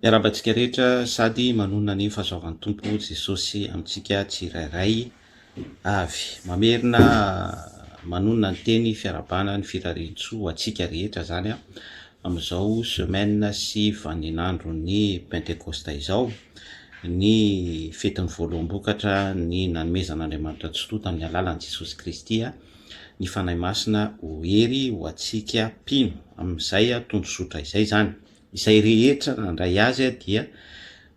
Miarahaba antsika rehetra sady manonona ny fahasoavan'ny Tompo Jesosy amintsika tsirairay avy. Mamerina manonona ny teny fiarahabana ny firarian-tsoa ho antsika rehetra izany amin'izao semaine sy vaninandron'ny Pentekosta izao, ny fetin'ny voaloham-bokatra ny nanomezan'Andriamanitra ny soa tamin'ny alalan'i Jesosy Kristy. ny Fanahy Masina ho hery ho antsika mpino amin'izay tondrozotra izay izany. Izay rehetra nandray Azy dia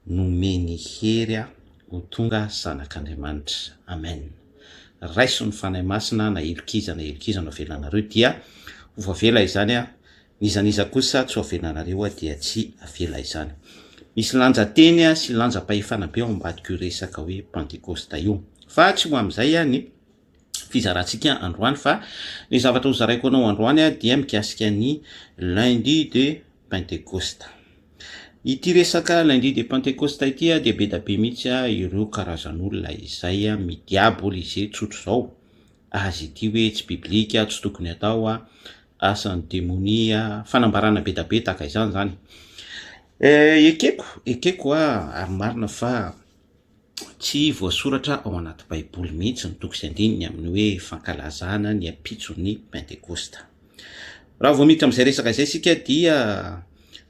nomeny hery ho tonga zanak'Andriamanitra. Amen. Raiso ny Fanahy Masina na helokiza na helokiza no avelanareo dia ho voavela izany, n'iza n'iza kosa tsy ho avelanareo dia tsy avela izany. Misy lanja teny sy lanja-pahefana be ao ambadik'io resaka hoe Pantekosta io. Fa tsy ho amin'izay ihany. fizarantsika androany fa ny zavatra ho zaraiko anao androany dia mikasika ny lundi de pentecoste ity resaka lundi de pentecoste ity dia be da be mihitsy ireo karazan'olona izay midiaboly izay tsotro izao azy ity hoe tsy biblika tsy tokony atao a asan'ny demonia fanambarana be da be tahaka izany zany eh, ekeko ekeko a ary marina fa Tsy voasoratra ao anaty Baiboly mihitsy ny toko sy andininy amin'ny hoe fankalazana ny ampitson'ny Pentekosta. Raha vao miditra amin'izay resaka izay isika dia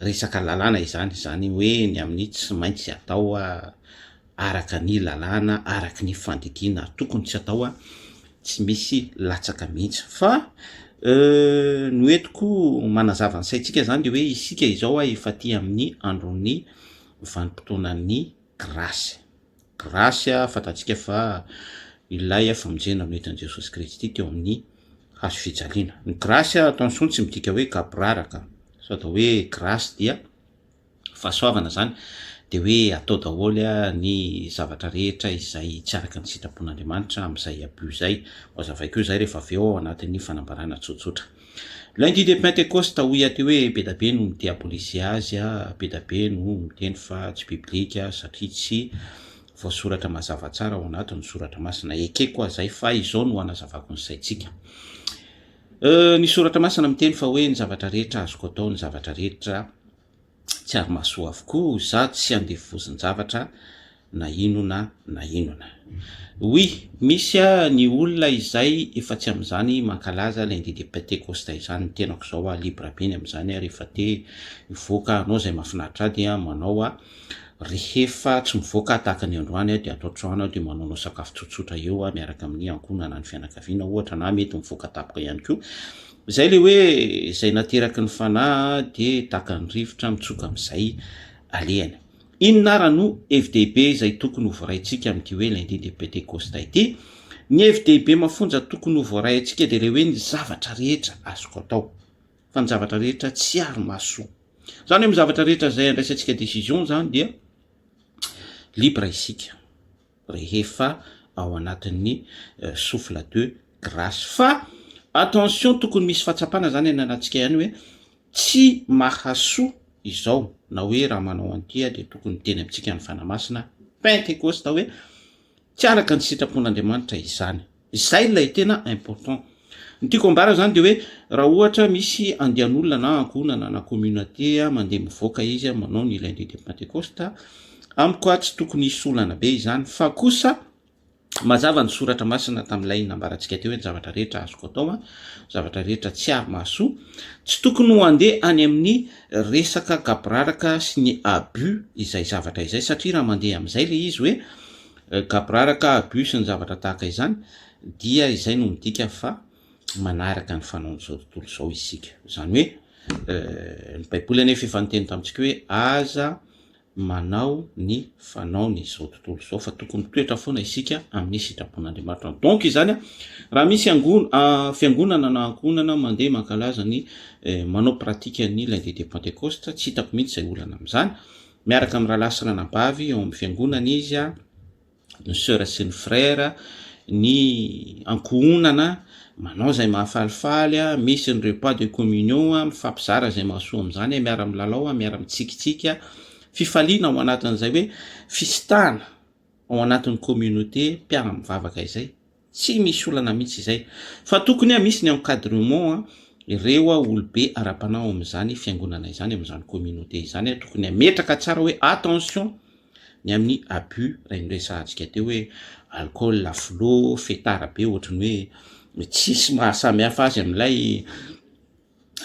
resaka lalàna izany, izany hoe ny amin'ny tsy maintsy atao araka ny lalàna, araka ny fandidiana tokony tsy atao, tsy misy latsaka mihitsy. Fa ny ho entiko manazava ny saintsika izany dia hoe isika izao efa aty amin'ny andron'ny vanim-potoanan'ny Grace. Grace fantatsika fa ilay famonjena no hitan'i Jesosy Kristy teo amin'ny hazo fijaliana. Ny grace ato amin'ny soa tsy midika hoe gaboraraka fa atao hoe grace dia fahasoavana izany dia hoe atao daholo ny zavatra rehetra izay tsy araka ny sitrapon'Andriamanitra amin'izay abus izay. Ho hazavaiko izay rehefa avy eo ao anatin'ny fanambarana tsotsotra. Lundi de pentecoste hoy aty hoe bedabe no midiabolise azy a, bedabe no miteny fa tsy biblika satria tsy voasoratra mazava tsara ao anaty ny soratra masina, ekeko aza zay fa izao no anazavako ny saintsika. Euh, ny soratra masina miteny fa hoe ny zavatra rehetra azoko atao ny zavatra rehetra, tsy ary mahasoa avokoa sady tsy andevozin-javatra na inona na inona. Oui, misy ny olona izay efa tsy amin'izany mankalaza lundi de pentecoste izany, ny tenako izao a, libre be ny amin'izany a, rehefa te hivoaka hanao izay mahafinaritra ahy dia manao aho, rehefa tsy mivoaka aho tahaka ny androany aho dia ato an-trano aho dia manaonao sakafo tsotsotra eo aho miaraka amin'ny ankohonana, ny fianakaviana ohatra na mety mivoaka tampoka ihany koa. Zay le hoe zay nateraky ny fanahy de taka ny rivotra mitsoka amizay alehany. Inona ara no hevi-dehibe izay tokony ho voaraintsika amin'ity hoe lundi de Pentecosta ity? Ny hevi-dehibe mafonja tokony ho voaray antsika dia le hoe ny zavatra rehetra azoko atao fa ny zavatra rehetra tsy ary maso. Zany hoe amin'ny zavatra rehetra izay andraisantsika decision zany dia libre isika. rehefa ao anatin'ny souffle de grace fa attention tokony misy fahatsapana zany any anatsika ihany hoe tsy mahasoa izao na hoe raha manao an'ity dia tokony teny amintsika ny fanamasina pentekosta hoe tsy araka ny sitrapon'Andriamanitra izany Izay ilay tena important. Ny tiako ambara zany de hoe raha ohatra misy andian'olona na ankohonana na communauté mandeha mivoaka izy manao ny lundi de pentecoste, amiko a tsy tokony hisy olana be izany fa kosa mazava ny soratra masina tamin'ilay nambarantsika teo hoe ny zavatra rehetra azoko atao an, zavatra rehetra tsy ary mahasoa, tsy tokony ho andeha any amin'ny resaka gaboraraka sy ny abus izay zavatra izay satria raha mandeha amin'izay le izy hoe Gaborara ka abus ny zavatra tahaka izany dia izay no midika fa manaraka ny fanaon'izao tontolo izao isika. Izany hoe ny baiboly anefa efa niteny tamintsika hoe aza manao ny fanaon'izao tontolo izao fa tokony toetra foana isika amin'ny sitrapon'Andriamanitra. Donc izany raha misy angon fiangonana na ankohonana mandeha mankalaza ny manao pratique ny lundi de pentecoste tsy hitako mihitsy izay olana amin'izany. Miaraka amin'ny rahalahy sy ranabavy ao amin'ny fiangonana izy, ny soeur sy ny frère, ny ankohonana manao izay mahafalifaly, misy ny repas de communion, mifampizara izay mahasoa amin'izany, miara-milalao, miara-mitsikitsiky, fifaliana ao anatin'izay hoe fisitahana ao anatin'ny communauté mpiara-mivavaka izay. Tsy misy olana mihitsy izay. Fa tokony a misy ny encadrement a, ireo a olobe ara-panahy ao amin'izany fiangonana izany, amin'izany communauté izany a, tokony hametraka tsara hoe attention ny amin'ny abus, raha noresahantsika teo hoe alcool, flot, fetard be ohatran'ny hoe tsisy maha samy hafa azy amin'ilay.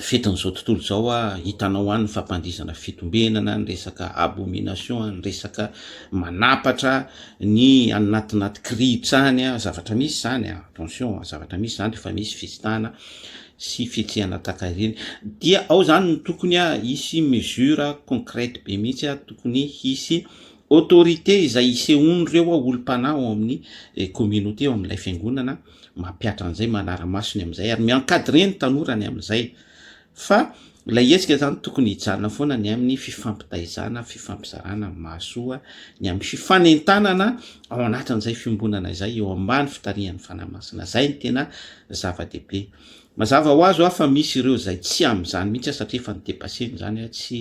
fetin'izao tontolo izao a, hitanao any ny fampandihizana fitombenana, ny resaka abomination, ny resaka manapatra ny any anatin'aty kirihitra any a, zavatra misy izany a, attention a, zavatra misy izany rehefa misy fizitana sy fihetsehana tahaka ireny, dia ao izany no tokony a hisy mesure concrète be mihitsy a, tokony hisy autorité izay isehoan'ireo olom-panahy ao amin'ny communauté ao amin'ilay fiangonana, Mampihatra an'izay, manara-maso ny amin'izay ary mi-encadrer ny tanora ny amin'izay fa ilay hetsika izany tokony hijanona foana ny amin'ny fifampitaizana, fifampizarana mahasoa, ny amin'ny fifanentanana ao anatin'izay fiombonana izay eo ambany fitarihan'ny Fanahy Masina. Izay no tena zava-dehibe. Mazava ho azy hoa fa misy ireo izay tsy amin'izany mihitsy aho satria efa ni-depasser-ny izany aho, tsy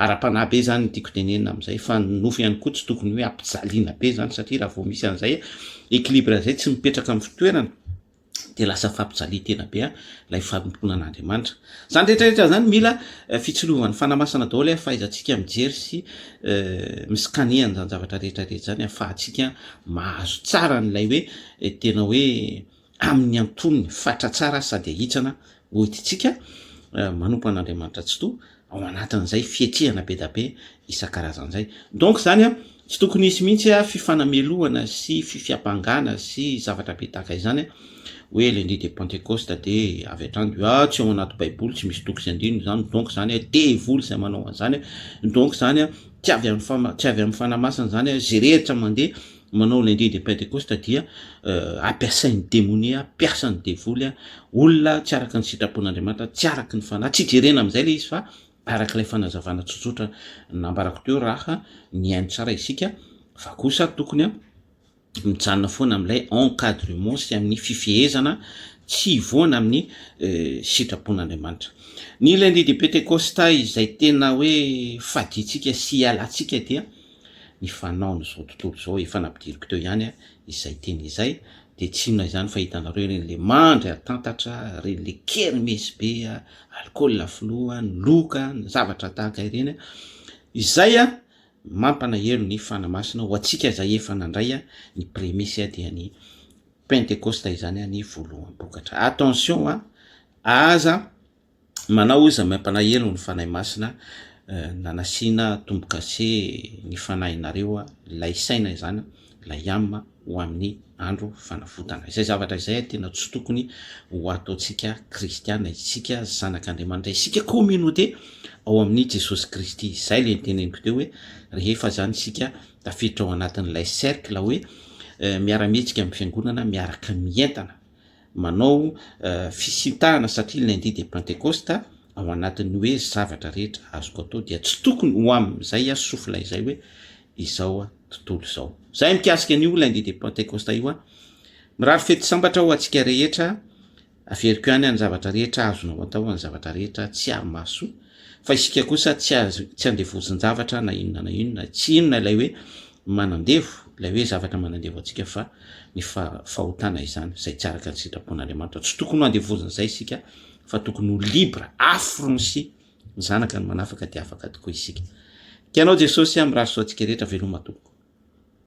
ara-panahy be izany ny tiako tenenina amin'izay fa ny nofo ihany koa tsy tokony hoe ampijaliana be izany satria raha vao misy an'izay équilibre izay tsy mipetraka amin'ny fitoerany dia lasa fampijalia-tena be ilay fanompoana an'Andriamanitra. Izany rehetra rehetra izany mila fitsilovany fanamasina daholo eh, fahaizantsika mijery sy mi-scanner an'izany zavatra rehetra rehetra izany ahafahantsika mahazo tsara an'ilay hoe tena hoe amin'ny antonony fatra tsara sady ahitsana ho itintsika manompo an'Andriamanitra Tsitoha ao anatin'izay fiatrehana be da be isan-karazany izay. Donc izany an, tsy tokony hisy mihitsy fifanamelohana sy fifiampangana sy zavatra be tahaka izany hoe lundi de pentecoste dia avy hatrany dia ah tsy ao anaty baiboly tsy misy toko sy andininy izany donc izany devoly izay manao an'izany donc izany tsy avy amin'ny tsy avy amin'ny fanahy masina izany izay rehetra mandeha manao lundi de pentecoste dia ampiasain'ny demonia mpiasan'ny devoly a olona tsy araka ny sitrapon'Andriamanitra tsy araka ny fanahy tsy jerena amin'izay le izy fa araka ilay fanazavana tsotsotra nambarako teo raha nihaino tsara isika fa kosa tokony a mijanona foana amin'ilay encadrement sy amin'ny fifehezana tsy hivoana amin'ny eh, sitrapon'Andriamanitra. Ny lundi de Pentecosta izay tena hoe faditsika sy ialantsika dia ny fanaon'izao tontolo izao, efa nampidiriko teo ihany izay teny izay, dia tsy inona izany fa hitanareo ireny le mandry atantatra, ireny le kermesy be alikaola filoha, ny loka, ny zavatra tahaka ireny, izay mampanaelo ny fanahy masina ho antsika izay efa nandray ny premice dia ny pentekosta izany ny voaloham-bokatra. Attention a! aza Manao hoy izahay maim-panahy helo ny Fanahy Masina na nasiana tombo-kase ny fanahinareo ilay saina izany ilay âme ho amin'ny andro fanavotana. Izay zavatra izay tena tsy tokony ho ataontsika kristiana isika zanak'Andriamanitra isika communauté ao amin'ny Jesosy Kristy. Izay ilay niteneniko teo hoe rehefa izany isika tafiditra ao anatin'ilay cercle hoe miara-mihetsika amin'ny fiangonana miaraka mientana. Manao fisintahana satria ilay andihy dia Pentekosta ao anatin'ny hoe zavatra rehetra azoko atao dia tsy tokony ho amin'izay aho sofla izay hoe izao tontolo izao. Izay mikasika an'io ilay andihy dia Pentekosta io aho. Mirary fety sambatra ho antsika rehetra. Averiko ihany any zavatra rehetra azonao atao, any zavatra rehetra tsy ary mahasoa. Fa isika kosa tsy azo tsy andevozin-javatra na inona na inona. Tsy inona ilay hoe manandevo, ilay hoe zavatra manandevo antsika fa ny fahotana izany, izay tsy araka ny sitrapon'Andriamanitra. Tsy tokony ho andevozin'izay isika fa tokony ho libre, affrnci, ny zanaka ny manafaka dia afaka tokoa isika. Tianao Jesosy a, mirary soa antsika rehetra, veloma tompoko.